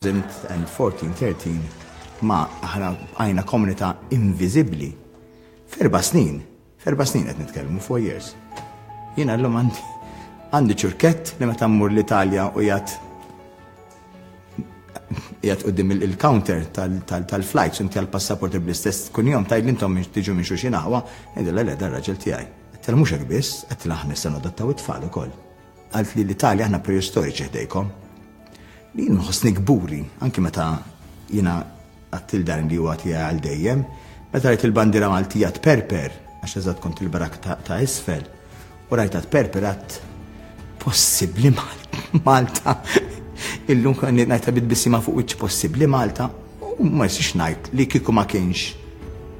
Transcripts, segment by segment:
2014-13 ma aħna bqajna komunità inviżibbli. F'erba' snin, f'erba' snin qed nitkellmu, four years. Jiena llum għandi għandi ċurkett li meta mmur l-Italja u jgħat jgħat qudiem il-counter tal-flights inti għal-passaport bl-istess kun jom tajd intom tiġu minn xuxin aħwa, ngħidilha le dan raġel tiegħi. Qed mhux hekk biss, qed aħna se nadottaw it-tfal ukoll. Għalt li l-Italja aħna preistoriċi ħdejkom. Li jien nħossni kburi, anki meta jiena għattil dan li huwa tiegħi għal dejjem, meta rajt il-bandira Maltija tperper, għax eżatt kont il-barak ta' isfel, u rajta tperper għat possibli Malta. Illum kan najta bit bisima fuq iċ possibli Malta. U ma nistax ngħid li kieku ma kienx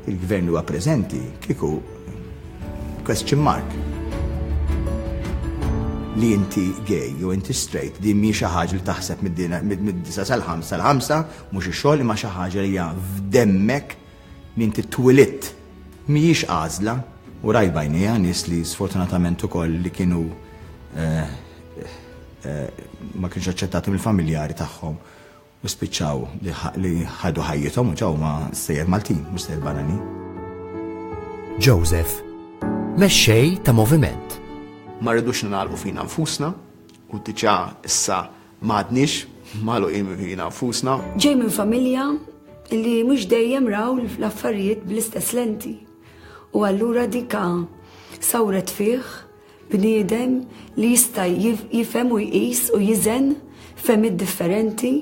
il-Gvern li huwa preżenti, kieku question mark. Li inti gay jew inti straight din mhi xi ħaġa li taħseb mid-disa' sal-ħamsa sal-ħamsa, mhux ix-xogħol imma xi ħaġa li hija f'demmek li inti twilidt. Mhijiex għażla. U rajt b'għajnejja nies li sfortunatament ukoll li kienu ma kienux aċċettati mill-familjari tagħhom u spiċċaw li ħadu ħajjithom u ġew ma' stejjer Maltin mhux stejjer barranin. Joseph, mexxej ta' moviment. Ma rridux ningħalqu fina nfusna u diġà issa m'għadniex magħluqin fina nfusna. Ġej minn familja li mhux dejjem raw l-affarijiet bl-istess lenti u allura dika sawret fih Bniedem li jista' jifhem u jqis u jiżen fehmiet differenti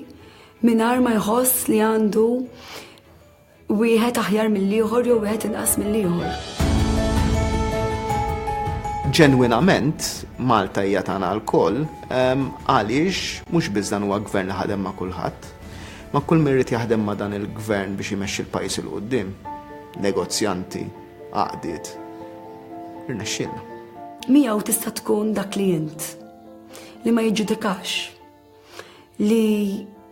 mingħajr ma jħoss li għandu wieħed aħjar mill-ieħor jew wieħed inqas mill-ieħor. Ġenwinament, Malta hija tagħna lkoll ehm, għaliex mhux biss dan huwa gvern li ħadem ma' kulħadd, ma' kull mirrid jaħdem ma' dan il-gvern biex jmexxi l-pajjiż il-qudiem, negozjanti, għaqdiet. Irnexxielna. Miegħu tista' tkun dak li int li ma jiġġudikax li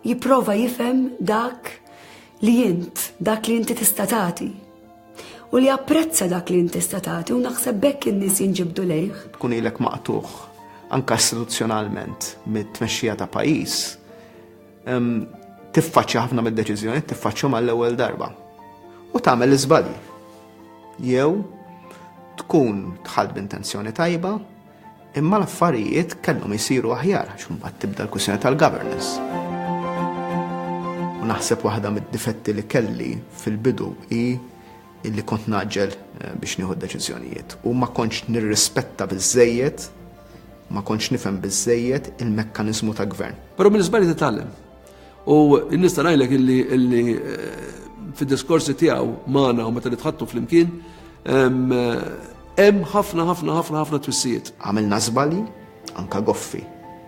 jipprova jifhem dak li int, dak li inti tista' tagħti u li apprezza dak li intista tagħti u naħseb bekk in-nies jinġibdu lejh. Tkun ilek maqtuħ anka istituzzjonalment mit-tmexxija ta' pajjiż, tiffaċċja ħafna mid-deċiżjoni, tiffaċċjhom għall-ewwel darba. U tagħmel iżbalji. Jew tkun tħall b'intenzjoni tajba, imma l-affarijiet kellhom isiru aħjar għax mbagħad tibda l-kwistjoni tal-governance. U naħseb waħda mid-difetti li kelli fil-bidu hi illi kont ngħaġġel biex nieħu d-deċiżjonijiet u ma kontx nirrispetta biżżejjed, ma kontx nifhem biżżejjed il-mekkaniżmu ta' gvern. Però mill-iżbalji titgħallem. U nista' ngħidlek illi fid-diskorsi tiegħu magħna u meta nitħattu flimkien hemm ħafna ħafna ħafna ħafna twissijiet. Għamilna żbalji, anke goffi.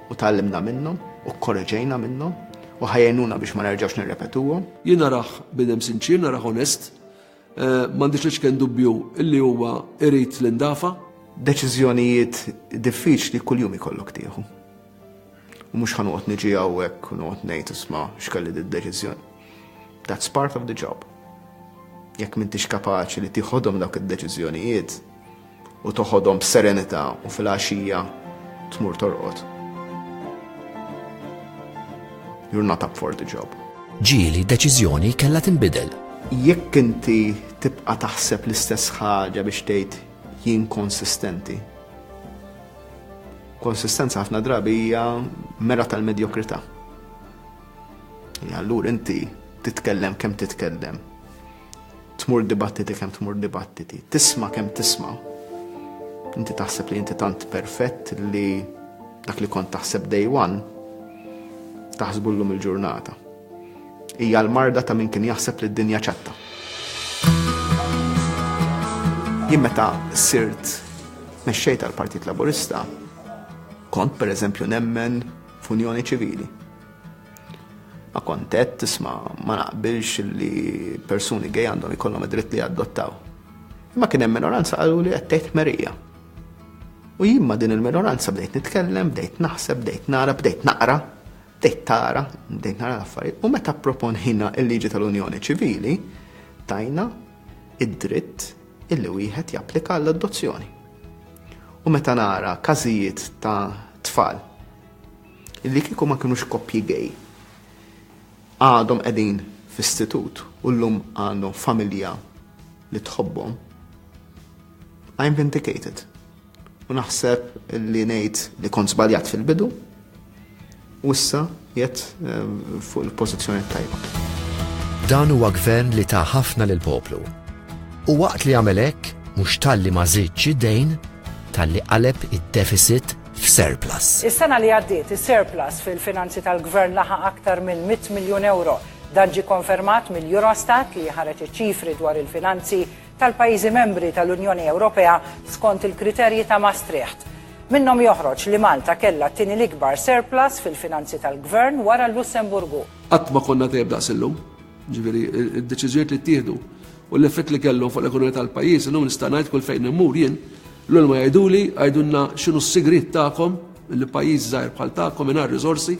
U tgħallimna minnhom, u kkoreġejna minnhom, u ħa jgħinuna biex ma nerġgħux nirrepetuhom. Jien narah bniedem sinċier, narah onest, m'għandix l-iċken dubbju illi huwa irid li ndafa'. Deċiżjonijiet diffiċli kuljum ikollok tieħu. U mhux ħa noqgħod niġi hawnhekk u noqgħod ngħid isma' x'kelli d-deċiżjoni. That's part of the job. Jekk m'intix kapaċi li tieħodhom dawk id-deċiżjonijiet, u toħodhom b'serenità u filgħaxija tmur torqod. You're not up for the job. Ġieli deċiżjoni kellha tinbidel. Jekk inti tibqa' taħseb l-istess ħaġa biex tgħid jien konsistenti. Konsistenza ħafna drabi hija mera tal-medjokrità. Allura inti titkellem kemm titkellem Tmur dibattiti kemm tmur dibattiti, tisma' kemm tisma'. Inti taħseb li inti tant perfett li dak li kont taħseb day one taħsbullum il-ġurnata. Hija l-marda ta' min kien jaħseb li d-dinja ċatta. Jien meta sirt mexxej tal-Partit Laburista, kont per eżempju nemmen f'unjoni ċivili. Ma kont għedt, isma', ma naqbilx li persuni gay għandhom ikollhom id-dritt li jadottaw. Imma kien hemm minoranza qaluli qed tgħid ħmerija. U jien ma' din il-minoranza bdejt nitkellem, bdejt naħseb, bdejt nara, bdejt naqra, bdejt tara, bdejt nara l-affarijiet. U meta pproponejna l-liġi tal-unjoni ċivili, tajna id-dritt illi wieħed japplika għall-adozzjoni. U meta nara każijiet ta' tfal li kieku ma kinux koppji gay għadhom qegħdin f'istitut u llum għandhom familja li tħobbhom, I'm vindicated. U naħseb li ngħid li kont żbaljat fil-bidu u issa jett eh, fuq il-pożizzjoni tajba. Dan huwa gvern li ta' ħafna lil poplu. U waqt li għamel hekk, mhux talli ma żidx id-dejn, talli qaleb id-deficit f'surplus. Is-sena li għaddiet, is-surplus fil-finanzi tal-Gvern laħaq aktar minn mitt miljun ewro. Dan ġie konfermat mill-Eurostat li ħareġ iċ-ċifri dwar il-finanzi tal-pajjiżi membri tal-Unjoni Ewropea skont il-kriterji ta' Maastricht. Minnhom joħroġ li Malta kellha t-tieni l-ikbar surplus fil-finanzi tal-Gvern wara l-Lussemburgu. Qatt ma konna dgħajjeb daqs illum. Ġifieri d-deċiżjonijiet li ttieħdu u l-effett li kellu fuq l-ekonomija tal-pajjiż, illum nista' ngħid kull fejn immur jien, l ma jgħiduli għajdulna x'inhu s-sigriet tagħkom li pajjiż żgħir bħal tagħkom mingħajr riżorsi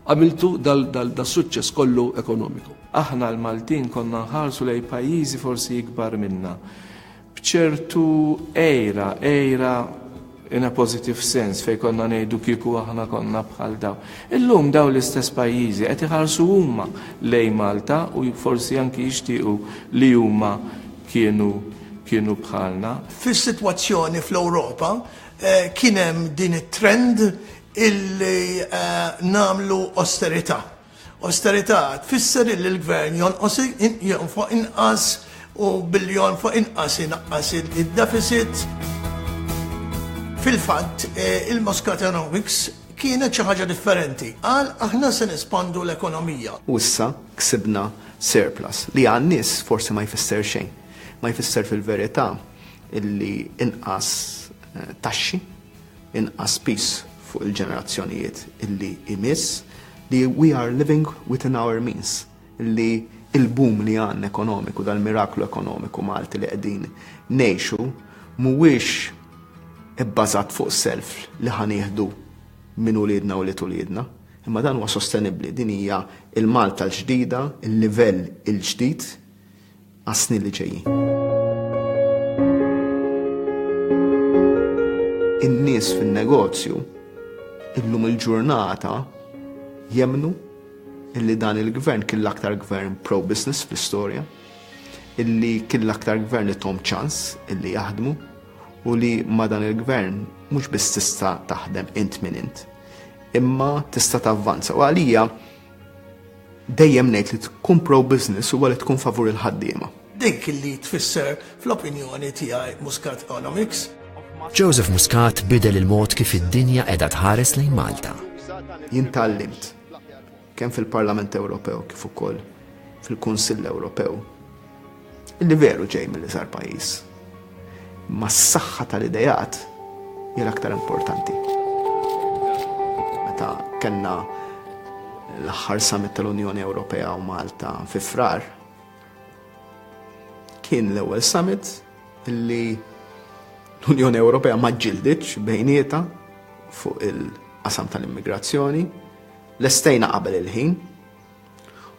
għamiltu dal-suċċess kollu ekonomiku. Aħna l-Maltin konna nħarsu lejn pajjiżi forsi ikbar minna. b'ċertu għira, għira in a positive sense fejn konna ngħidu kieku aħna konna bħal dawn. Illum dawn l-istess pajjiżi qed iħarsu huma lejn Malta u forsi anki jixtiequ li huma kienu kienu bħalna. Fis-sitwazzjoni fl-Ewropa kien hemm din it-trend illi nagħmlu osterità. Osterità tfisser illi l-Gvern jonqos jonfoq inqas u billi jonfoq inqas inaqqas id-deficit. Fil-fatt, il-Muscatonomics kienet xi ħaġa differenti. Qal aħna se nespandu l-ekonomija. U issa ksibna surplus, li għan-nies forsi ma jfisser xejn. Ma jfisser fil-verità illi inqas taxxi. inqas piż fuq il-ġenerazzjonijiet li jmiss, li we are living within our means, li l-boom li għandna ekonomiku, dal-miraklu ekonomiku Malti li qegħdin ngħixu mhuwiex ibbażat fuq self li ħa nieħdu minn uliedna u ulied uliedna, imma dan huwa sostenibbli, din hija l-Malta l-ġdida, il-livell il-ġdid, għas-snin li ġejjin. In-nies fin-negozju illum il-ġurnata jemmnu illi dan il-gvern kien l-aktar gvern pro-business fl-istorja, illi kien l-aktar gvern li tom ċans illi jaħdmu u li ma dan il-gvern mhux biss tista' taħdem int minn int, imma tista' tavvanza. U għalija Dejjem ngħid li tkun pro-business huwa li tkun favur il-ħaddiema. Dik li tfisser fl-opinjoni tiegħi Muscat Economics. Joseph Muscat bidel il-mod kif id-dinja qiegħda tħares lejn Malta. Jien tgħallimt kemm fil-Parlament Ewropew kif ukoll fil-Kunsill Ewropew Li veru ġej milli sar pajjiż. Imma s-saħħa tal-ideat hija l-aktar importanti. Meta kellna l-aħħar summit tal-Unjoni Ewropea u Malta fi frar, kien l-ewwel summit li l-Unjoni Ewropea ma ġildiċ bejnieta fuq il-qasam tal-immigrazzjoni, l-estejna qabel il-ħin,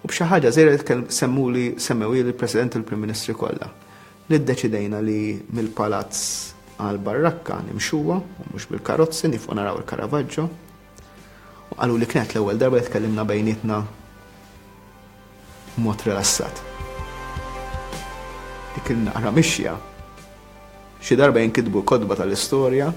U b'xi ħaġa żgħira li semmuli semmewhieli l-President u l-Prim Ministri kollha, li ddeċidejna li mill-Palazz għall-Barrakka nimxuha u mhux bil-karozzi nifqu naraw il-Caravaggio. U qaluli kienet l-ewwel darba li tkellimna bejnietna b'mod rilassat. Dik il-naqra mixja Xi darba jinkitbu l-kotba tal-istorja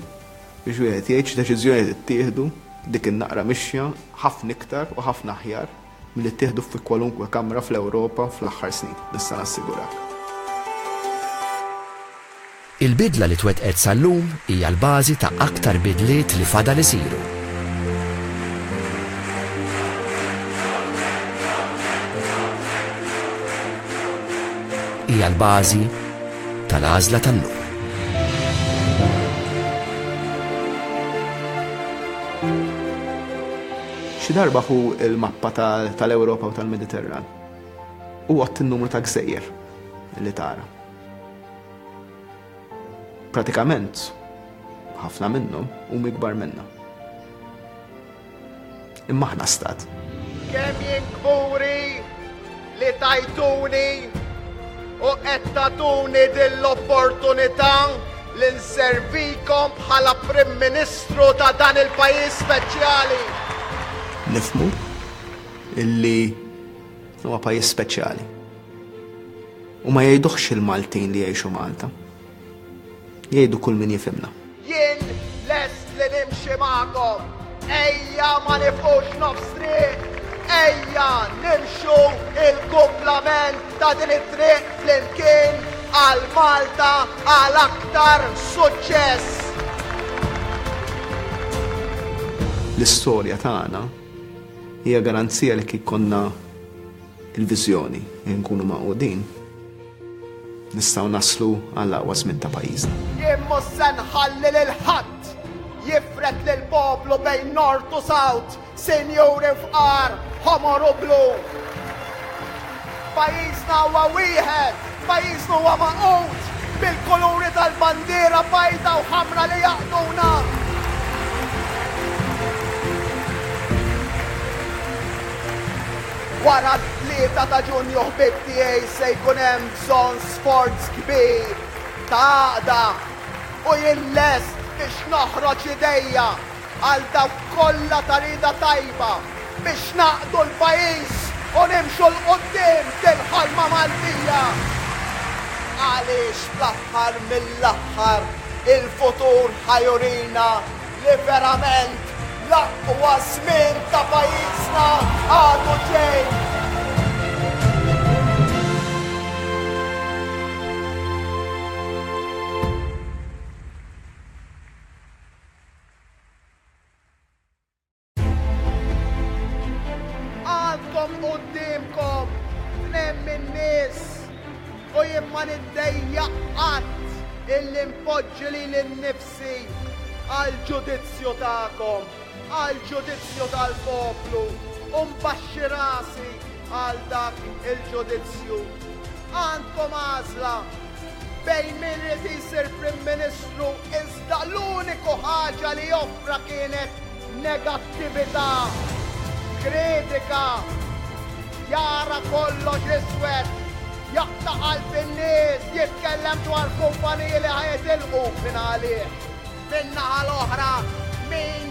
biex wieħed jgħid x'deċiżjonijiet ittieħdu dik in-naqra mixja ħafna iktar u ħafna aħjar milli ttieħdu fi kwalunkwe kamra fl-Ewropa fl-aħħar snin, nista' nassigurak. Il-bidla li twettqet sal-lum hija l-bażi ta' aktar bidliet li fadal isiru. Hija l-bażi tal-għażla tal-lum. Xi darba hu l-mappa tal-Ewropa u tal-Mediterran u għott il-numru ta' gżejjer li tara. Pratikament, ħafna minnhom u mikbar minna. Imma aħna stat. Kemm jien kburi li tajtuni u qed tagħtuni din l-opportunità li nservikom bħala Prim Ministru ta' dan il-pajjiż speċjali. Nifhmu illi huwa pajjiż speċjali. U ma jgħiduhx il-Maltin li jgħixu Malta. Jgħidu kull min jifhimna. Jien lest li nimxi magħkom. Ejja ma nifqux nofs triq. Ejja nimxu il-kumplament ta' din it-triq flimkien għal Malta għal aktar suċċess. L-istorja tagħna hija garanzija li kif konna il-viżjoni li nkunu magħqudin nistgħu naslu għall-aqwa żmien ta' pajjiżna. Jien mhux se nħalli lil ħadd jifred lill-poplu bejn Nord u South, sinjuri fqar, ħomor u blu. Pajjiżna huwa wieħed, pajjiżna huwa magħqud bil-kuluri tal-bandiera bajda u ħamra li jaqduna. Wara t-Tlieta ta' Ġunju ħbieb tiegħi se jkun hemm bżonn sforz kbir ta' għaqda u jien lest biex noħroġ idejja għal dawk kollha ta' rieda tajba biex nagħqdu l-pajjiż u nimxu 'l quddiem fil-ħolma Maltija għaliex fl-aħħar mill-aħħar il-futur ħa jurina Li verament l-aqwa żmien ta' pajjiżna għadu ġej. Għandkom qudiemkom tnejn min-nies u jien ma niddejjaq qatt illi npoġġi lili nnifsi għall-ġudizzju tagħkom, għall-ġudizzju tal-poplu u nbaxxi rasi għal dak il-ġudizzju. Għandkom għażla bejn min irid jsir Prim Ministru Da' l-uniku ħaġa li offra kienet negattività, kritika, jara kollox iswed, jaqta' qalb in-nies, jitkellem dwar kumpaniji li ħa jitilqu, min għalih? Min-naħa l-oħra, min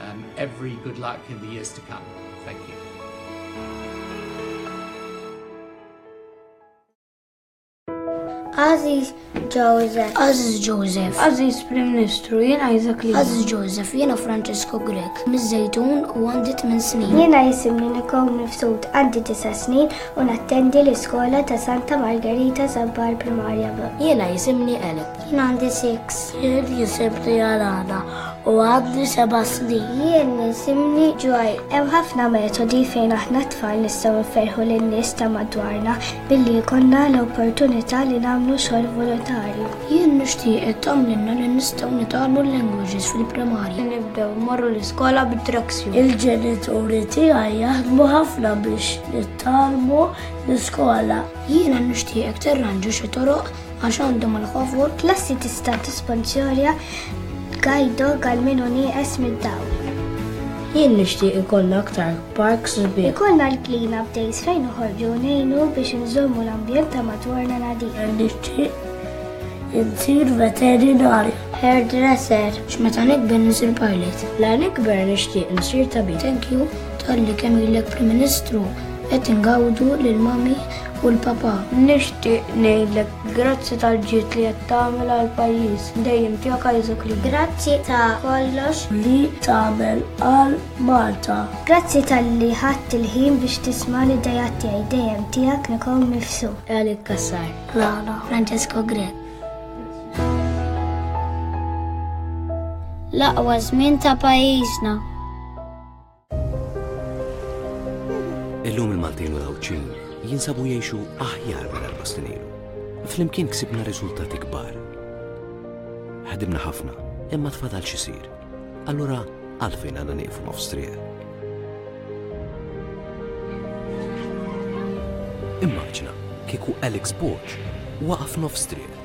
Um, every good luck in the years to come. Thank you. Aziz Joseph. Aziz Joseph. Aziz Prim Ministru, jien Isaac Lee. Aziz Joseph, jiena Francesco Grek. Mizzejtun u għandi 8 snin. Jiena jisimni Nikon Mifsud għandi 9 snin u nattendi l-iskola ta' Santa Margarita Zambar Primarja. Jiena jisimni Eleb. Jien għandi six. Jien jisimni Alana u għandi seba' snin. Jien jisimni Joy. Hemm ħafna metodi fejn aħna tfal nistgħu nferħu lin-nies ta' madwarna billi jkollna l-opportunità li nagħmlu xogħol volontarju. Jien nixtieq ittamlinna li nistgħu nitgħallmu l-languages fil-primarja. Nibdew morru l-iskola bit-traksju. Il-ġenituri tiegħi jaħdmu ħafna biex nittalmu l-iskola. Jiena nixtieqek tirranġa xi toroq Għax għandhom il-ħofur, klassi tista' tisponsorja guide dog għal min hu nieqes mid-dawl. Jien nixtieq ikollna aktar parks u bieħ. Ikollna l-clean up days fejn uħorġu nejnu biex nżommu l-ambjent ta' madwarna nadif. Nixtieq insir veterinarju. Hairdresser. X'meta nikber nisir pilot. La nikber nixtieq nsir tabib. Thank you tal-li kemm ilek Prim Ministru qed ingawdu lil mami u l-Papa. Nixtieq ngħidlek grazzi tal-ġid li qed tagħmel għall-pajjiż. Dejjem tiegħek Isaac Rebin. Grazzi ta' kollox. Li tagħmel għal Malta. Grazzi talli ħadt il-ħin biex tisma' l-ideat tiegħi. Dejjem tiegħek Nicole Mifsud. Eric Cassar. Lala. Francesco Grech. L-aqwa żmien ta' pajjiżna. Illum il-Maltin u l-Għawdxin jinsabu jgħixu aħjar minn l-Bastinilu. Flimkien ksibna riżultati kbar. Ħadimna ħafna, imma tfadal xisir. Allura għalfejn għandna nieqfu nofs triq. Immaġna kieku Alex Borg waqaf nofs triq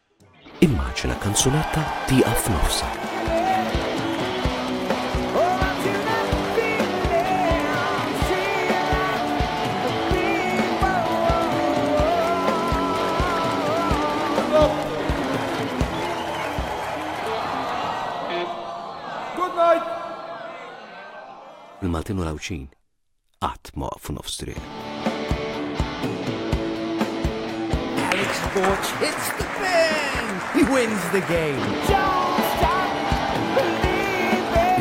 Immaġina kanzunetta tieqaf f'nofsha. Il-Maltin u l-Għawdxin qatt ma waqfu nofs triq. Alex Borg hits the fan! He wins the game!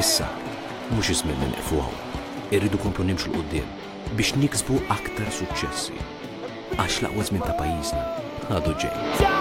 Issa, mhux iż-żmien li neqfu hawn. Irridu komplu nimxu l qudiem biex niksbu aktar suċċessi. Għax l-aqwa żmien ta' pajjiżna għadu ġej.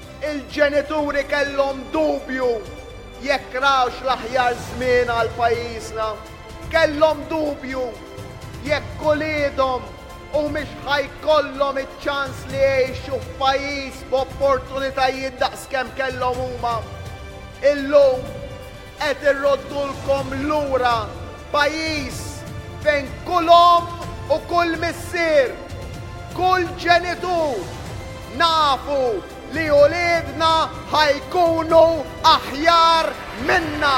Il-ġenituri kellhom dubju jekk rawx l-aħjar żmien għal pajjiżna. Kellhom dubju jekk uliedhom humiex ħa jkollhom iċ-ċans li jgħixu f'pajjiż b'opportunitajiet daqs kemm kellhom huma. Illum, Qed irroddulkom lura pajjiż fejn kull omm u kull missier, kull ġenitur, nafu li uliedna ħa jkunu aħjar minna!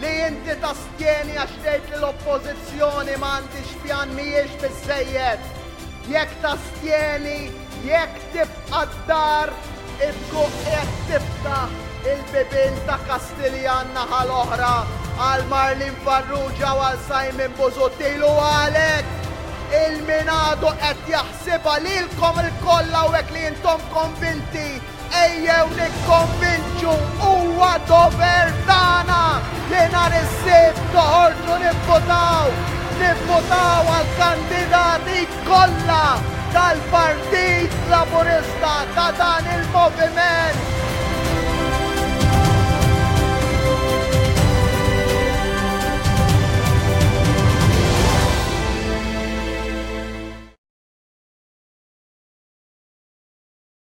Li inti tastjeni għax tgħid li l-oppożizzjoni ma għandix pjan mhijiex biżejjed. Jekk tastjeni, jekk tibqa' d-dar, itkun qed tiftaħ il-bibien ta' Kastiljan naħa l-oħra għal Marlin Farrugia u għal Simon Busuttil u għalek il-minadu qed jaħsibha lilkom il-kolla u li intom konvinti Ejjew nikkonvinċu huwa dover tagħna li nhar is-Sibt toħorġu nivvutaw, nivvutaw għall-kandidati kollha tal-Partit Laburista ta' dan il-moviment.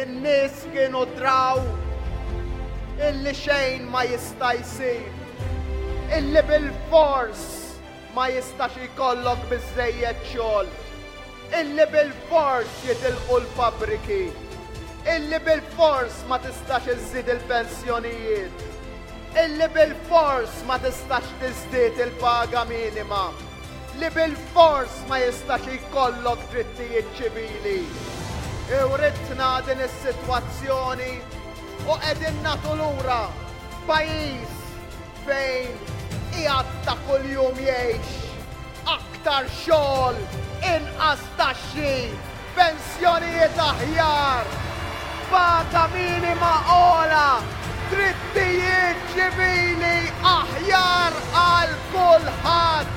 in-nies kienu draw illi xejn ma jista' jsir, illi bil-fors Ma jistax jkollok biżżejjed xogħol illi bilfors jitilqu l-fabbriki, illi bilfors ma tistax iżżid il-pensjonijiet, illi bilfors ma tistax tiżdied il-paga minima, li bilfors ma jistax jkollok drittijiet ċivili. Iwritna din is-sitwazzjoni u qegħdin nagħtu lura pajjiż fejn qiegħed ta' kuljum jgħix, aktar xogħol, inqas taxxi, pensjonijiet aħjar, qbata minima ogħla, drittijiet ċivili aħjar għal kulħadd.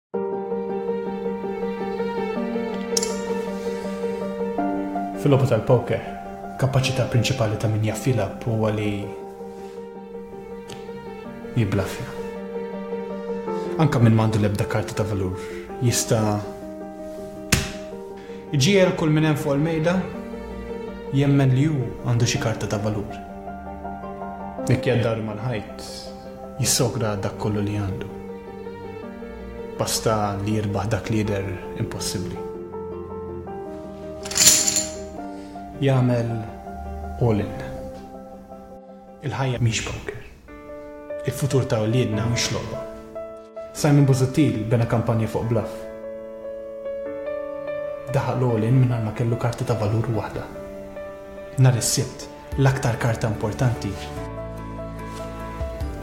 Fil-lobu tal-poker, kapaċità prinċipali ta' min jaffilab huwa li jiblaffja. Anka minn mandu l-ebda karta ta' valur jista' iġiel kull minn hemm fuq il-mejda jemmen li hu għandu xi karta ta' valur. Jekk jaddar mal-ħajt, jissogra għal dak kollu li għandu. Basta li jirbaħ dak li jidher impossibbli. Jagħmel all in. Il-ħajja mhix poker. Il-futur ta' uliedna mhux logħba. Simon Busuttil bena kampanja fuq bluff. Daħaq l-all in mingħajr ma kellu karti ta' valur waħda. Nhar is-sibt L-aktar karta importanti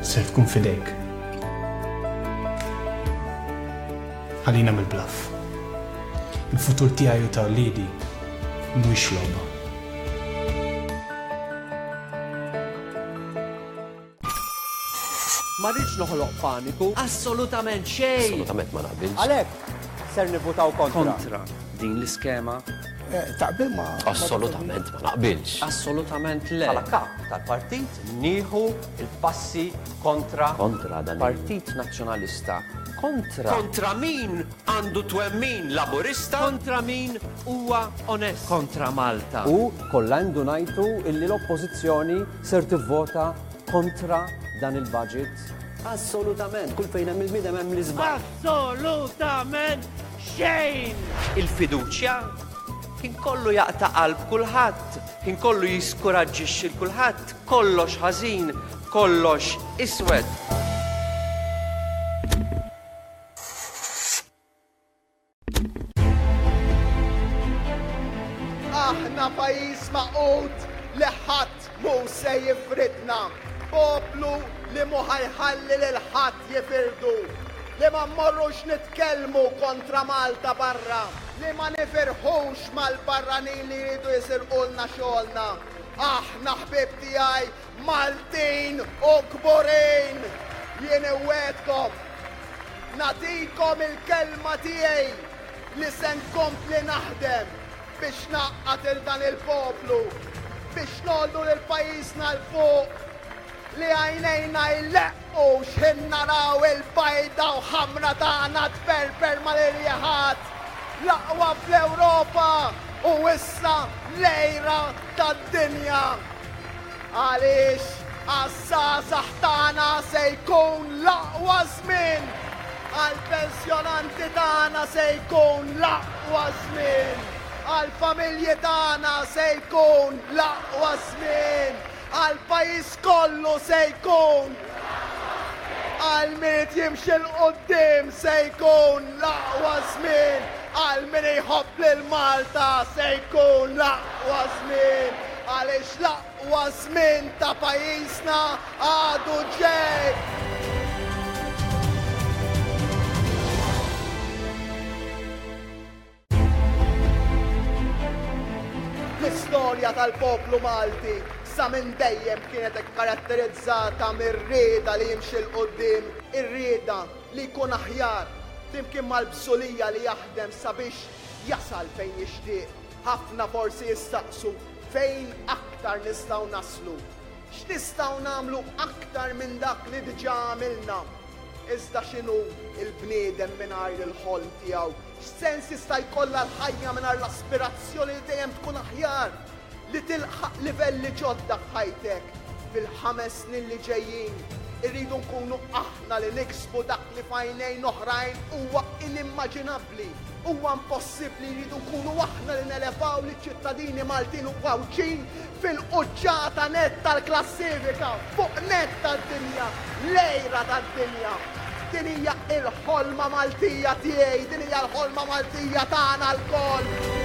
ser tkun f'idejk. Ħalina mill-bluff. Il-futur tiegħi u ta' wliedi mhuwiex logħba. Ma rridx noħloq paniku. Assolutament xejn. Assolutament ma naqbilx. Għalhekk ser nivvutaw kontra. Kontra din l-iskema. Eh, taqbil ma. Assolutament ma naqbilx. Assolutament le. Għala kap tal-partit nieħu il-passi kontra. Kontra dan. Partit Nazzjonalista. Kontra. Kontra min għandu twemmin laburista. Kontra min huwa onest. Kontra Malta. U kollha għandu ngħidu illi l-oppożizzjoni Ser tivvota kontra dan il-budget? Assolutament, kull fejn hemm il-bniedem hemm l-iżball. Assolutament xejn! Il-fiduċja kien kollu jaqta' qalb kulħadd, kien kollu jiskuraġġixxi l kulħadd, kollox ħażin, kollox iswed. Aħna pajjiż maqut li ħadd mu se jifridna, poplu li mu ħajħalli lil ħadd jifirdu, li ma mmorrux nitkellmu kontra Malta barra, li ma nifirħux mal-barranin li jridu jisirqulna xogħolna. Aħna ħbieb tiegħi Maltin u Kburin, jien iwegħedkom, nagħtikom il-kelma tiegħi li se nkompli naħdem biex ngħaqqad lil dan il-poplu, biex ngħollu lil pajjiżna 'l fuq, li għajnejna jleqqmu. U x'ħin naraw il-bajda u ħamra tagħna tperper mal-irjeħat! L-aqwa fl-Ewropa u issa l-għira tad-dinja! Għaliex għaż-żgħażagħ tagħna se jkun l-aqwa żmien! Għall-pensjonanti tagħna se jkun l-aqwa żmien! Għall-familji tagħna se jkun l-aqwa żmien! Għall-pajjiż kollu se jkun. Għal min irid jimxi 'l quddiem se jkun l-aqwa żmien. Għal min iħobb lil Malta se jkun l-aqwa żmien. Għaliex l-aqwa żmien ta' pajjiżna għadu ġej. L-istorja tal-poplu Malti sa minn dejjem kienet ikkaratterizzata mir-rieda li jimxi 'l quddiem, ir-rieda li jkun aħjar, flimkien mal-bżulija li jaħdem sabiex jasal fejn jixtieq. Ħafna forsi jistaqsu fejn aktar nistgħu naslu? X'nistgħu nagħmlu aktar minn dak li diġà għamilna? Iżda x'inhu l-bniedem mingħajr il-ħolm tiegħu? X'sens jista' jkollha l-ħajja mingħajr l-aspirazzjoni li dejjem tkun aħjar, li tilħaq livelli ġodda f'ħajtek? Fil-ħames snin li ġejjin, irridu nkunu aħna li niksbu dak li f'għajnejn oħrajn huwa inimmaġinabbli. Huwa impossibbli, irridu nkunu aħna li nelevaw liċ-ċittadini Maltin u Għawdxin Fil-quċċata nett tal-klassifika, fuq nett tad-dinja, l-għira tad-dinja. Din hija l-ħolma Maltija tiegħi, din hija l-ħolma Maltija tagħna lkoll.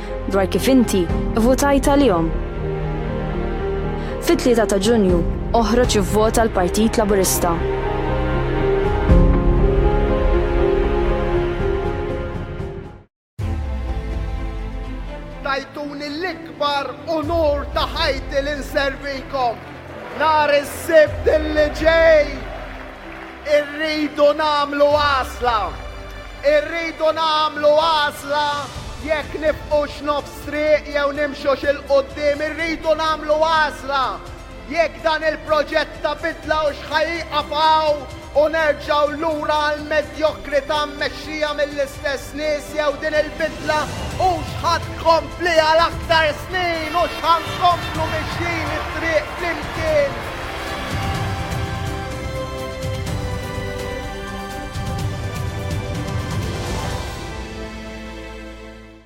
dwar kif inti vvutajt għalihom. Fit-Tlieta ta' Ġunju, oħroġ ivvota l-Partit Laburista. tajtuni l-ikbar unur ta' ħajti l-inservikom. Nar is-sibt li ġej Irridu nagħmlu għażla. Irridu nagħmlu għażla jekk nifqux nofs triq jew nimxux 'il quddiem. Irridu nagħmlu għażla jekk dan il-proġett ta' bidla hux ħa jieqaf hawn u nerġgħu lura għall-medjokrità Xija mill-istess nies jew din il-bidla hux ħa tkompli għal aktar snin hux ħa nkomplu mixjin it-triq flimkien.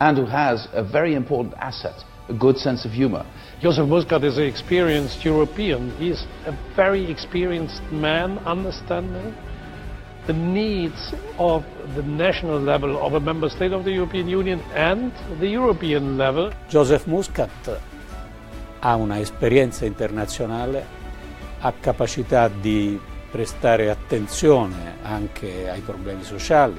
Andrew has a very important asset, a good sense of humour. Joseph Muscat is a experienced European, he is a very experienced man understanding the needs of the national level of a member state of the European Union and the European level. Joseph Muscat ha una esperjenza internazzjonali, ha kapaċità di prestare attenzjoni anke ai problemi sociali,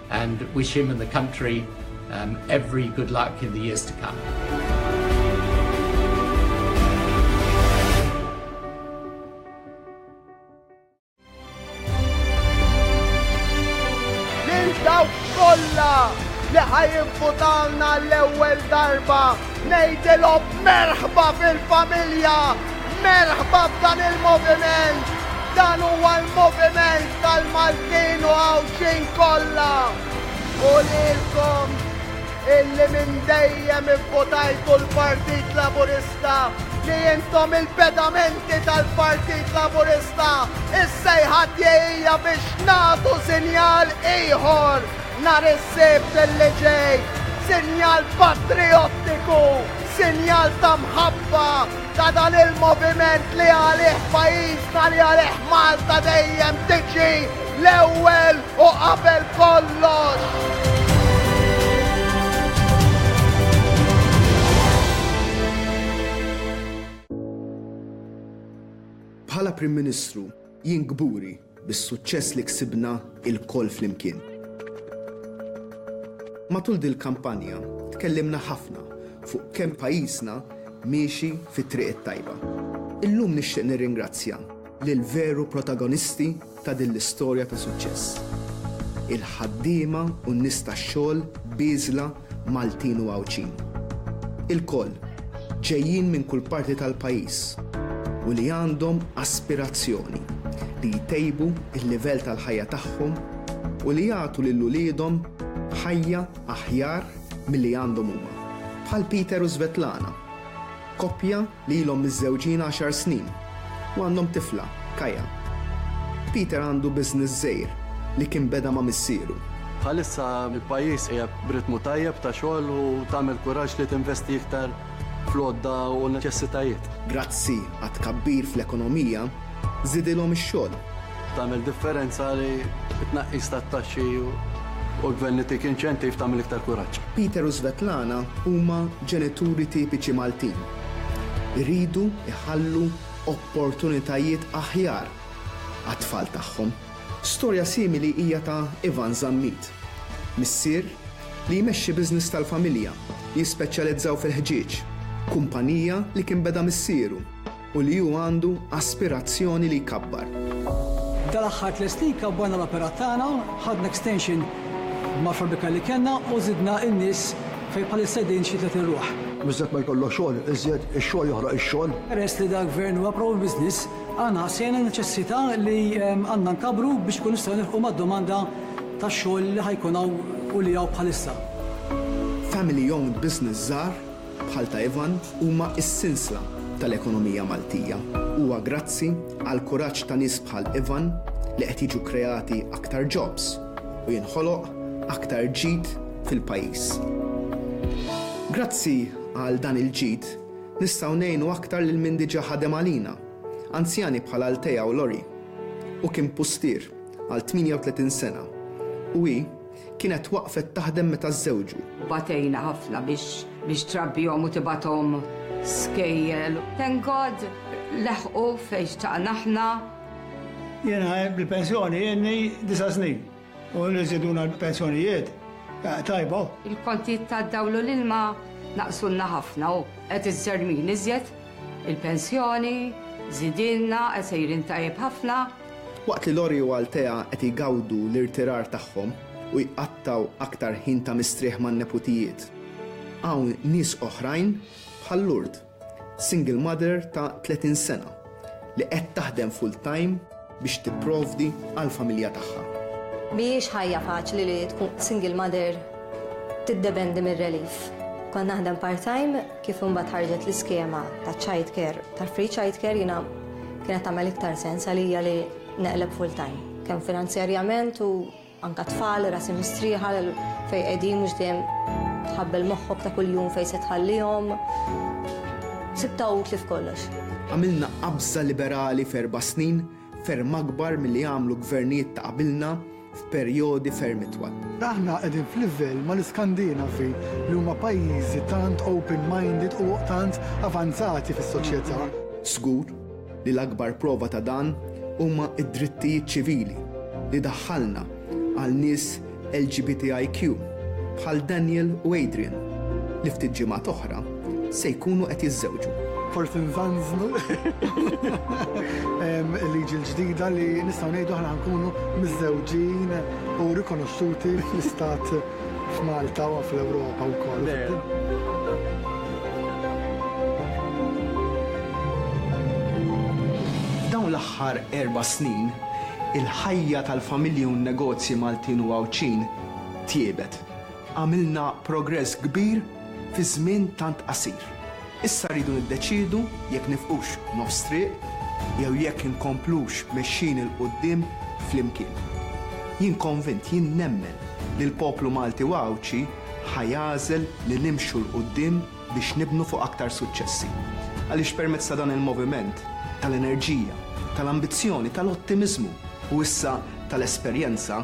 and wish him and the country um, every good luck in the years to come. Lil dawk kollha li ħajinfutalna l-ewwel darba Ngħidilhom merħba fil-familja, merħba f'dan il-moviment, dan huwa l-moviment tal-Maltin u Għawdxin kollha. U lilkom illi minn dejjem ivvotajtu l-Partit Laburista, li intom il-pedamenti tal-Partit Laburista, is-sejħa tiegħi hija biex nagħtu sinjal ieħor Nhar is-Sibt li ġej, sinjal patrijottiku, sinjal ta' mħabba ta' dan il-moviment li għalih pajjiżna, li għalih Malta dejjem tiġi l-ewwel u qabel kollox. Bħala Prim Ministru, jien kburi bis-suċċess li ksibna lkoll flimkien. Matul dil-kampanja tkellimna ħafna fuq kemm pajjiżna miexi fit-triq it-tajba. Illum nixtieq nirringrazzja lill-veru protagonisti ta' din l-istorja ta' suċċess, il-ħaddiema u n-nies tax-xogħol bieżla Maltin u Għawdxin, ilkoll ġejjin minn kull parti tal-pajjiż u li għandhom aspirazzjoni li jtejbu l-livell tal-ħajja tagħhom u li jagħtu lil uliedhom ħajja aħjar milli għandhom huma, bħal Peter u Svetlana, koppja li ilhom miżżewġin għaxar snin u għandhom tifla, Kaya. Peter għandu business żgħir li kien beda ma' missieru. Bħalissa l-pajjiż qiegħed b'ritmu tajjeb ta' xogħol u tagħmel kuraġġ li tinvesti iktar fl-għodda u n-neċessitajiet. Grazzi għat-tkabbir fl-ekonomija, żidilhom ix-xogħol. Tagħmel differenza li t-tnaqqis tat-taxxi u l-Gvern itik inċentiv tagħmel iktar kuraġġ. Peter u Svetlana huma ġenituri tipiċi Maltin. Iridu jħallu opportunitajiet aħjar għat-tfal tagħhom. Storja simili hija ta' Ivan Zammit, missier li jmexxi business tal-familja li jispeċjalizzaw fil-ħġieġ, kumpanija li kien beda missieru. u li hu għandu aspirazzjoni li jkabbar. Dal-aħħar tliet snin kabbarna l-operat tagħna, ħadna extension mal-fabrika li kellna u żidna n-nies fejn bħalissa qegħdin xi tletin ruħ. Miżjed ma jkollok xogħol, iżjed ix-xogħol joħroq ix-xogħol. Peress li dal-Gvern huwa pro-business, aħna ħassejna n-neċessità li għandna nkabbru biex inkunu nistgħu nilħqu mad-domanda ta' xogħol li ħa jkun hawn u li hawn bħalissa. Family owned business żgħar bħal ta' Ivan huma s-sinsla tal-ekonomija Maltija. Huwa grazzi għall-kuraġġ ta' nies bħal Ivan li qed jiġu kreati aktar jobs u jinħoloq aktar ġid fil-pajjiż. Grazzi għal dan il-ġid nistgħu ngħinu aktar lil min diġa' ħadem għalina, anzjani bħal Althea u Lori. Hu kien pustier għal 38 sena u hi Kienet waqfet taħdem meta żżewġu. Batejna ħafna biex trabbihom u tibgħathom skejjel. Thank God leħqu fejn xtaqna aħna. Jiena bil-pensjoni ilni disa' snin u li żiduna l-pensjonijiet tajba. Il-kontijiet tad-dawl u l-ilma naqsulna ħafna u qed iżżermin iżjed. Il-pensjoni żidielna qed sejrin tajjeb ħafna. Waqt li Lori u Althea qed igawdu l-irtirar tagħhom u jqattgħu aktar ħin ta' mistrieħ man-neputijiet, hawn nies oħrajn bħal Lourdes, single mother ta' 30 sena, li qed taħdem full-time biex tipprovdi għall-familja tagħha. Mhijiex ħajja faċli li tkun single mother tiddependi mir-relief. Kont naħdem part-time, kif imbagħad ħarġet l-iskema taċ-childcare, tal-free childcare, jiena Kienet tagħmel iktar sens għalija li neqleb full time, kemm finanzjarjament u anka tfal, rasi mistrieħa fejn qegħdin mhux dejjem tħabbel moħħok ta' kuljum fejn se tħallihom. Sibta utli f'kollox. Għamilna qabża liberali f'erba' snin, ferm akbar milli għamlu gvernijiet ta' qabilna, f'perjodi ferm itwal. Aħna qegħdin f'livell mal-Iskandinavi li huma pajjiżi tant open minded u tant avanzati fis-soċjetà. Żgur li l-akbar prova ta' dan huma d-drittijiet ċivili li daħħalna għal nies LGBTIQ bħal Daniel u Adrian li ftit ġimgħat oħra, se jkunu qed jiżżewġu. Forsi nżanżnu il-liġi l-ġdida li nistgħu ngħidu aħna nkunu miżżewġin u rikonoxxuti fl-istat f'Malta u fl-Ewropa wkoll. F'dawn l-aħħar erba' snin, il-ħajja tal-familji u n-negozji Maltin u Għawdxin tjiebet. Għamilna progress kbir fi żmien tant qasir. Issa rridu niddeċiedu jekk nifqux nofs triq jew jekk inkomplux mexjin 'il quddiem flimkien. Jien konvint, jien nemmen li l-poplu Malti u Għawdxi ħa jagħżel li nimxu 'l quddiem biex nibnu fuq aktar suċċessi. Għaliex permezz ta' dan il-moviment tal-enerġija, tal-ambizzjoni, tal-ottimiżmu u issa tal-esperjenza,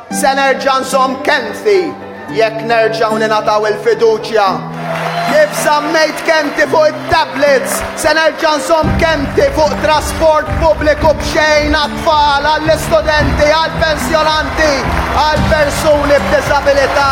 Se nerġa' nżomm kelmti jekk nerġgħu ningħataw il-fiduċja. Kif żammejt kelmti fuq it-tablets, se nerġa' nżomm kelmti fuq trasport pubbliku b'xejn għat-tfal, għall-istudenti, għall-pensjonanti, għall-persuni b'diżabilità.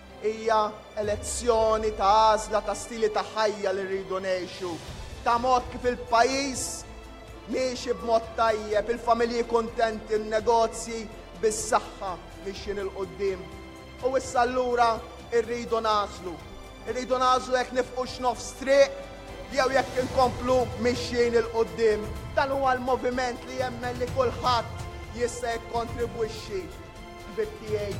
Hija elezzjoni ta' għażla ta' stili ta' ħajja li rridu ngħixu, ta' mod kif il-pajjiż miexi b'mod tajjeb, il-familji kuntenti, n-negozji bis-saħħa mixjin 'il quddiem. U issa allura rridu nagħżlu. Irridu nagħżlu jekk nifqux nofs triq jew jekk inkomplu mixjin 'il quddiem. Dan huwa l-moviment li jemmen li kulħadd jista' jikkontribwixxi. Ħbieb tiegħi,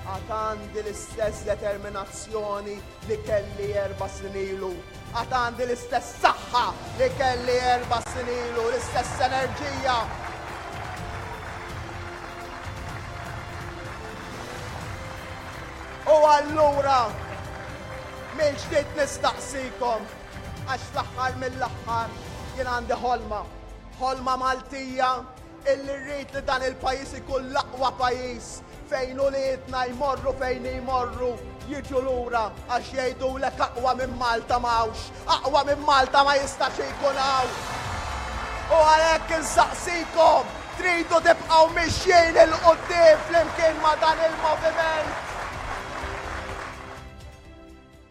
għad għandi l-istess determinazzjoni li kelli erba' snin ilu. Għad għandi l-istess saħħa li kelli erba' snin ilu, l-istess enerġija. U allura mill-ġdid nistaqsikom għax fl-aħħar mill-aħħar jien għandi ħolma, ħolma Maltija Illi rrid li dan il-pajjiż ikun l-aqwa pajjiż fejn uliedna jmorru fejn jmorru jiġu lura għax jgħidulek aqwa minn Malta ma hawnx, aqwa minn Malta ma jistax ikun hawn. U għalhekk insaqsikom, tridu tibqgħu mixjin 'il quddiem flimkien ma' dan il-moviment?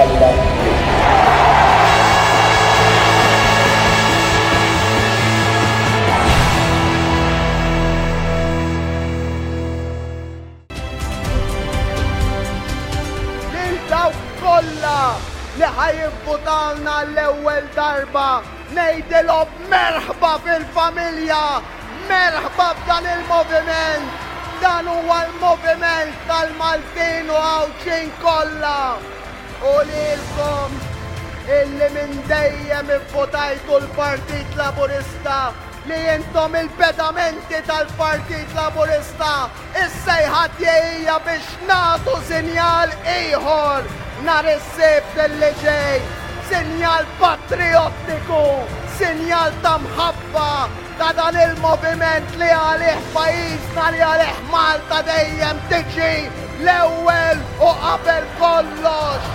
Alla Lil dawk kollha li ħa jivvutalna għall-ewwel darba. Ngħidilhom merħba fil-familja, merħba f'dan il-moviment. Dan huwa l-moviment tal-Maltin u Għawdxin kollha. U lilkom illi minn dejjem ivvotajtu l-Partit Laburista li intom il-pedamenti tal-Partit Laburista Is-sejħa tiegħi hija biex nagħtu sinjal ieħor nhar is-Sibt li ġej, sinjal patrijottiku, sinjal ta' mħabba ta' dan il-moviment li għalih pajjiżna, li għalih Malta dejjem tiġi l-ewwel u qabel kollox.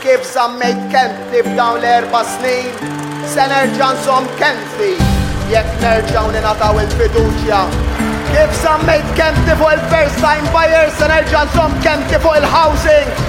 Kif żammejt kelmtni f'dawn l-erba' snin, se nerġa' nżomm kelmtni jekk nerġgħu ningħataw il-fiduċja. Kif żammejt kelmtni fuq il-first time buyer, se nerġa' nżomm kelmtni fuq il-housing.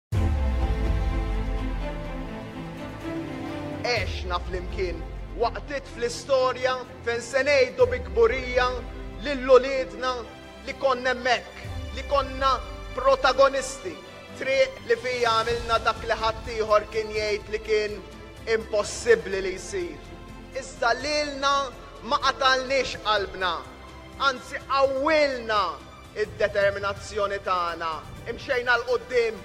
Għexna flimkien waqtiet fl-istorja fejn se ngħidu bi kburija lil uliedna li konna hemmhekk, li konna protagonisti, triq li fiha għamilna dak li ħaddieħor kien jgħid li kien impossibbli li jsir. Iżda lilna ma qatalniex qalbna, anzi qawwilna id-determinazzjoni tagħna, imxejna 'l quddiem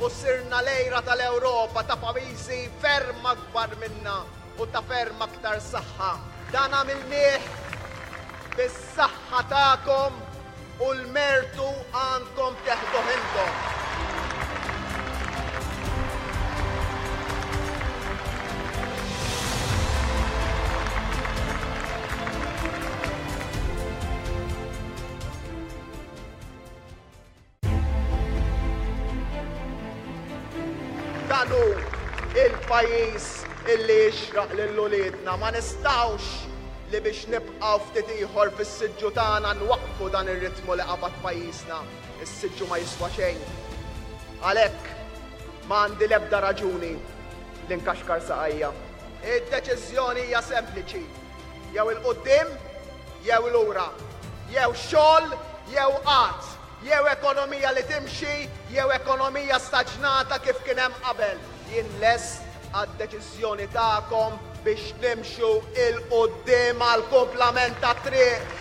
u sirna l-għira tal-Ewropa ta' pajjiżi ferm akbar minna u ta' ferm aktar saħħa. Dan għamilnieh bis-saħħa tagħkom u l-mertu għandkom teħduh intom. Danu il-pajjiż illi jixraq lil uliedna ma nistgħux li biex nibqgħu ftit ieħor fis-siġġu tagħna nwaqqfu dan ir-ritmu li qabad pajjiżna. Is-siġġu ma jiswa xejn. Għalhekk ma għandi l-ebda raġuni li nkaxkar saqajja. Id-deċiżjoni hija sempliċi. Jew 'il quddiem jew 'il ura, jew xogħol jew qgħad, jew ekonomija li timxi jew ekonomija staġnata kif kien hemm qabel, jien lest għad-deċiżjoni tagħkom biex nimxu 'il quddiem għall-kumplament tat-triq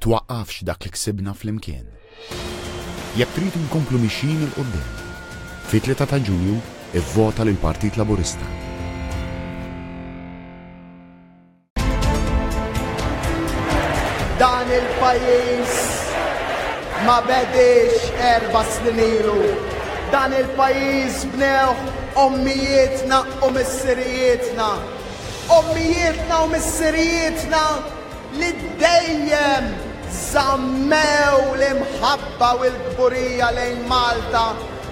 twaqqafx dak li ksibna flimkien. Jekk tridu nkomplu mixjin 'il quddiem, fit-Tlieta ta' Ġunju ivvota lill-Partit Laburista. Dan il-pajjiż ma bediex erba' snin ilu. Dan il-pajjiż bnewh ommijietna u missirijietna. Ommijietna u missirijietna li dejjem żammew l-imħabba u l-kburija lejn Malta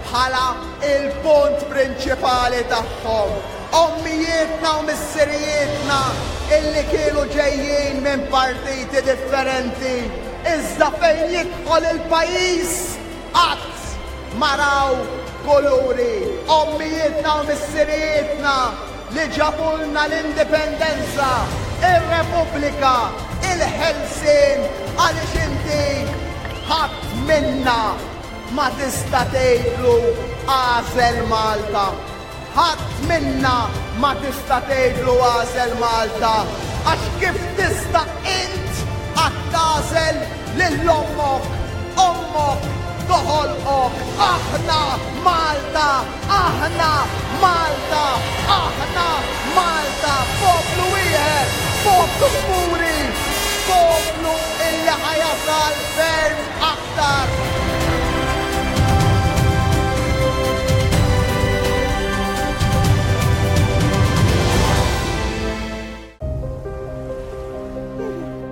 bħala l-punt prinċipali tagħhom, ommijietna u missirijietna illi kienu ġejjin minn partiti differenti iżda fejn jidħol il-pajjiż qatt ma raw kuluri, ommijietna u missirijietna, li ġabulna l-indipendenza, ir-Repubblika, il-ħelsien għaliex inti ħadd minna ma tista' tgħidlu agħżel Malta. Ħadd minna ma tista' tgħidlu agħżel Malta għax kif tista' int qatt tagħżel lil ommok, ommok toħolqok, aħna Malta! Aħna Malta! Aħna Malta! Poplu wieħed! Poplu kburi! Poplu illi ħa jasal ferm aktar!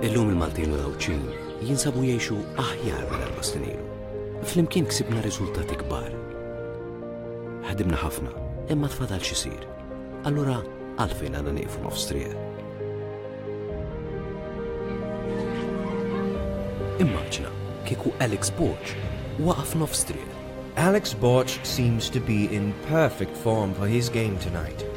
Illum il-Maltin u l-Għawdxin jinsabu jgħixu aħjar minn erba' snin ilu. Flimkien ksibna riżultati kbar Ħdimna ħafna, imma tfadal x'isir. Allura għalfejn għandna nieqfu nofs triq? Immaġna kieku Alex Borg waqaf nofs triq. Alex Borg seems to be in perfect form for his game tonight.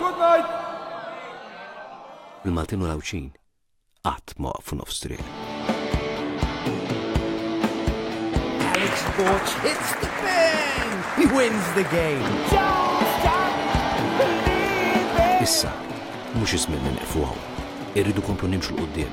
Good night! Il-Maltin u l-Għawdxin qatt ma waqfu nofs triq. Alex Borg hits the pin! He wins the game! Issa, mhux iż-żmien li neqfu hawn. Irridu komplu nimxu l-qudiem.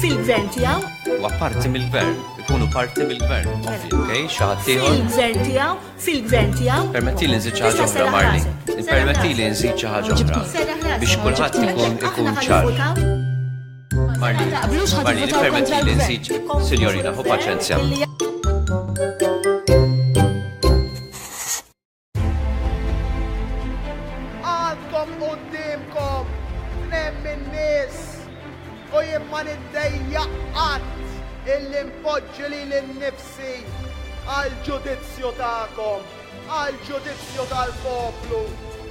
Fil-gvern tiegħu? Huwa parti mill-gvern, ikunu parti mill-gvern. Okej, xaħat tiegħu? Fil-gvern tiegħu? Fil-gvern tiegħu? Permetti li nżid ħaġa oħra Marli. Permetti li nżid ħaġa oħra. Biex kulħadd ikun ikun ċar. Marli, Marli, permetti li nżid, sinjorina, hu paċenzja. Għandkom qudiemkom tnejn min-nies u jien ma niddejja qatt illi npoġġi lili nnifsi għall-ġudizzju tagħkom, għall-ġudizzju tal-poplu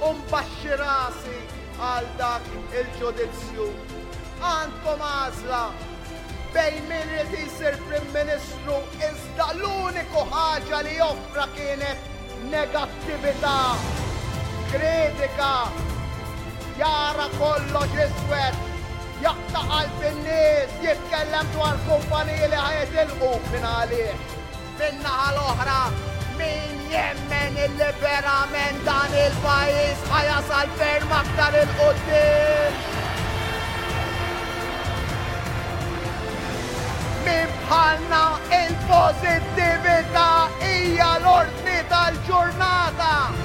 u nbaxxi rasi għal dak il-ġudizzju. Għandkom għażla, Bejn min ried isir Prim Ministru iżda l-uniku ħaġa li offra kienet negattività, kritika, jara kollox iswed, jaqta' qalb in-nies, jitkellem dwar kumpaniji li ħa jitilqu, min għalih? Min-naħa l-oħra, min jemmen illi verament dan il-pajjiż ħa jasal ferm aktar 'il quddiem? Min bħalna il-pożittività hija l-ordni tal-ġurnata.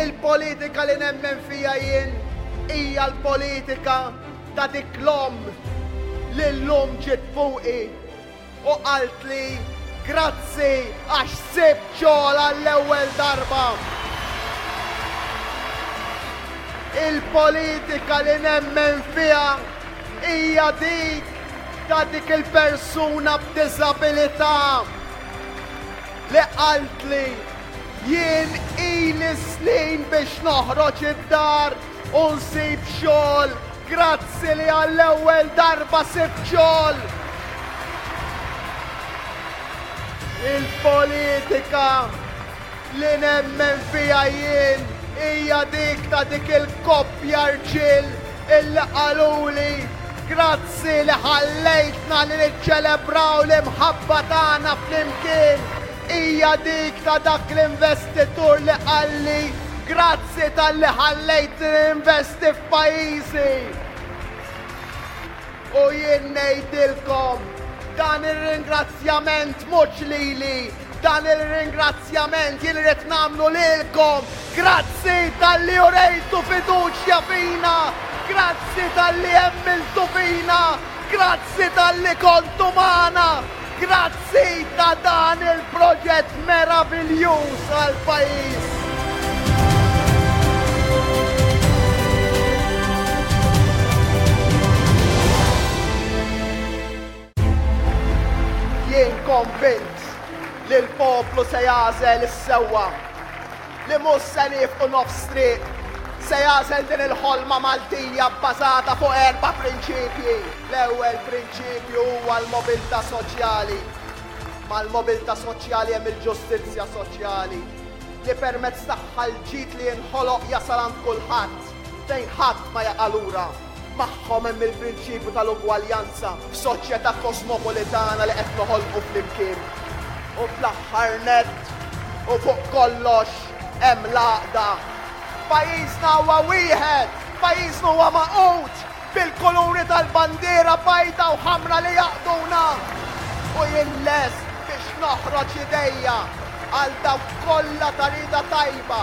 Il-politika li nemmen fiha jien hija l-politika ta' dik l-omm li llum ġiet fuqi u qaltli grazzi għax sibt xogħol għall-ewwel darba. Il-politika li nemmen fiha hija dik ta' dik il-persuna b'diżabilità. li qaltli, Jien ili snin biex noħroġ id-dar u nsib xogħol, grazzi li għall-ewwel darba sibt xogħol! Il-politika li nemmen fiha jien hija dik ta' dik il-koppja rġiel Illi qaluli, Grazzi li ħallejtna li niċċelebraw l-imħabba tagħna flimkien, hija dik ta' dak l-investitur li qalli, Grazzi talli ħallejtni ninvesti f'pajjiżi. U jien ngħidilkom, dan ir-ringrazzjament mhux lili, dan ir-ringrazzjament jien irrid nagħmlu lilkom, grazzi talli urejtu fiduċja fina, grazzi talli emmiltu fina, grazzi talli kontu magħna. Grazzi ta' dan il-proġett meraviljuż għall-pajjiż. Jien konvint li l-poplu se jagħżel is-sewwa. li mhux se niefqu nofs triq, se jagħżel din il-ħolma Maltija bbażata fuq erba' prinċipji. L-ewwel prinċipju huwa l-mobilità soċjali. Mal-mobilità soċjali hemm il-ġustizzja soċjali, li permezz tagħha l-ġid li jinħoloq jasal għand kulħadd, fejn ħadd ma jaqa' lura. Magħhom hemm il-prinċipju tal-ugwaljanza f'soċjetà kosmopolitana li qed noħolqu flimkien. U fl-aħħar nett, u fuq kollox, hemm l-għaqda. Pajjiżna huwa wieħed, pajjiżna huwa magħqud bil-kuluri tal-bandiera bajda u ħamra li jgħaqqduna. U jien lest biex noħroġ idejja għal dawk kollha ta' rieda tajba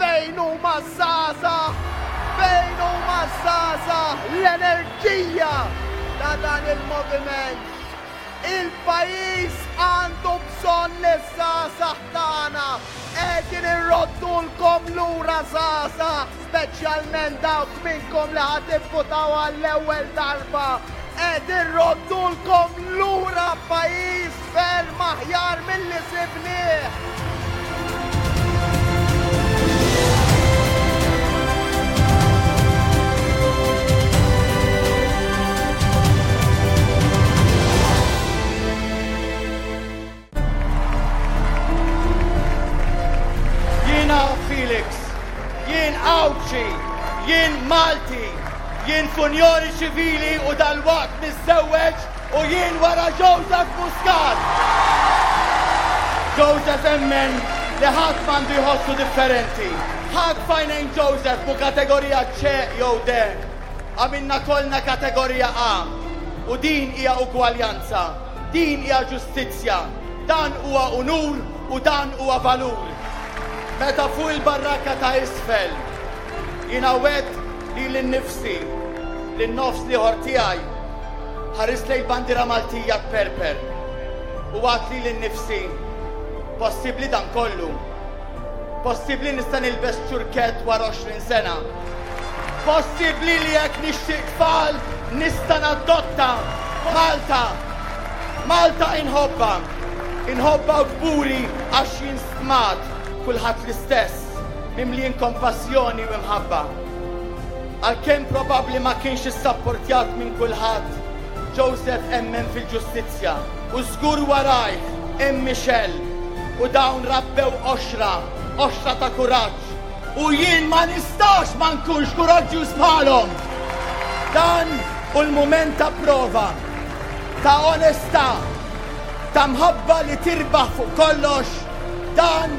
Fejn huma żgħażagħ? Fejn huma żgħażagħ? L-enerġija ta' dan il-moviment. Il-pajjiż għandu bżonn li żgħażagħ tagħna qegħdin irroddulkom lura żgħażagħ. Speċjalment dawk minnkom li ħa tivvutaw għall-ewwel darba, qed irroddulkom lura pajjiż ferm aħjar milli sibnieh! Jiena Felix, jien Għawdxi, jien Malti, jien funjoni ċivili u dal-waqt niżżewweġ u jien wara Joseph Muscat. Joseph emmen li ħadd m'għandu jħossu differenti. Ħadd fajnejn Joseph mu kategorija ċe jew de. Għamilna kollna kategorija A u din hija ugwaljanza. Din hija ġustizzja, dan huwa unur u dan huwa valur. Meta fuq il-barraka ta' isfel jiena wgħedt lili nnifsi, lin-nofs l-ieħor tiegħi, ħarist lejn il-bandiera Maltija tperper u għadt lili nnifsi, Possibbli dan kollu? Possibbli nista' nilbes ċurkett wara 20 sena? Possibbli li jekk nixtieq tfal nista' nadotta Malta? Malta inħobba, inħobba u kburi għax jien stmat kulħadd l-istess, mimlin kompassjoni u imħabba. Għalkemm probabbli ma kienx issapportjat minn kulħadd, Joseph emmen fil-ġustizzja. U żgur warajh hemm Michelle, u dawn rabbew qoxra, qoxra ta' kuraġġ, u jien ma nistax ma nkunx kuraġġjuż bħalhom! Dan hu l-mument ta' prova, ta' onestà, ta' mħabba li tirbaħ fuq kollox, dan